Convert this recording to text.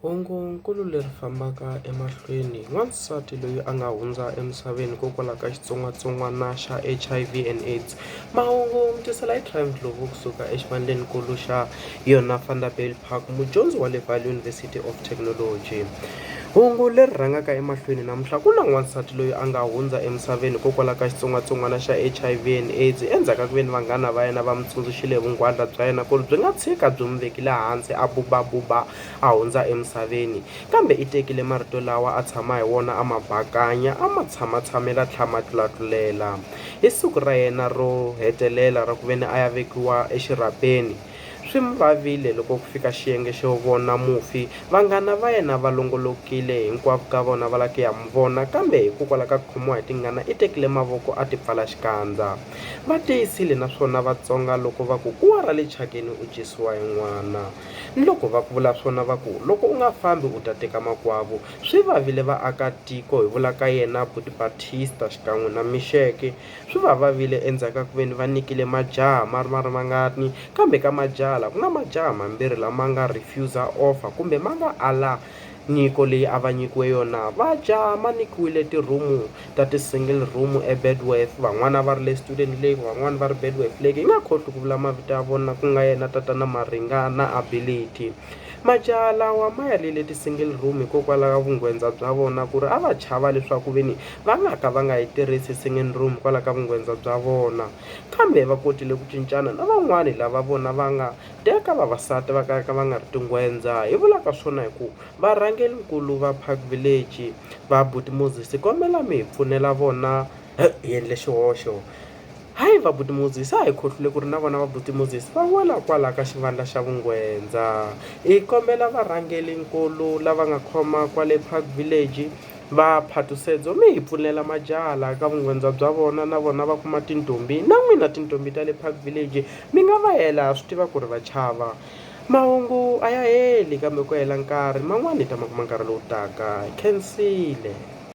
Hungu-nkulu leri fambaka emahlweni, Wansati loyi a nga hundza emisaveni hikokwalaho ka xitsongwatsongwana xa HIV and AIDS. Mahungu, Mutwisiwa la Ephraim Ndlovu ku suka exivandleni-nkulu xa yona Vanderbijl Park, mudyondzi wa le Vaal University of Technology. Hungu leri rhangaka emahlweni namuntlha, Ku na n'wansati loyi a nga hundza emisaveni hikokwalaho ka xitsongwatsongwana xa HIV and AIDS endzhaku ka ku veni vanghana va yena va n'wi tsundzuxile hi vunghwadla bya yena ku ri byi nga tshika byi n'wi vekile hansi a bubabuba a hundza emisaveni, kambe i tekile marito lawa a tshama hi wona a ma bakanya a ma tshamatshamela tlha ma tlulatlulela. Hi siku ra yena ro hetelela ra ku ve ni a ya vekiwa exirhapeni, swi n'wi vavile loko ku fika xiyenge xo vona mufi, vanghana va yena va longolokile hinkwavo ka vona va lava ku ya n'wi vona kambe hikokwalaho ka ku khomiwa hi tingana i tekile mavoko a tipfala xikandza. Va tiyisile naswona Vatsonga loko va ku kuwa ra le thyakeni u dyisiwa hi n'wana. Ni loko va ku vula swona va ku, Loko u nga fambi u ta teka makwavo. Swi vavile vaaka tiko, hi vula ka yena Buti Batista xikan'we na Mixeke. Swi va vavile endzhaku ka ku veni va nikile majaha ma ri ma ri mangani, kambe ka majaha la ku na majaha mambirhi la ma nga refuser offer kumbe ma nga ala Nyiko leyi a va nyikiwe yona va dya ma nyikiwile ti-room ta ti-single room eBedworth van'wana va ri le Student Lake van'wana va ri Bedworth Lake hi nga khohlwi ku vula mavito ya vona ku nga yena tatana Maringa na Ability majaha lawa ma ya le le ti-single room hikokwalaho ka vungwendza bya vona ku ri a va chava leswaku ve ni va nga ka va nga yi tirhisi single room hikwalaho ka vungwendza bya vona kambe va kotile ku cincana na van'wani lava vona va nga Teka vavasati va kalaka va nga ri tingwendza hi vulaka swona hi ku varhangeri nkulu va park village va buti Moses kombela mi hi pfunela vona hi endle xihoxo hayi va buti Moses a hi khohlwile ku ri na vona va buti Moses va wela kwala ka xivandla xa vungwendza hi kombela varhangeri nkulu lava nga khoma kwale park village va Phatusedzo mi hi pfunela majaha laha ka vungwendza bya vona na vona va kuma tintombi na n'wina tintombi ta le park village Mi nga va hela ha swi tiva ku ri va chava. Mahungu a ya heli kambe ku hela nkarhi, man'wana hi ta ma kuma nkarhi lowu taka. Khensile.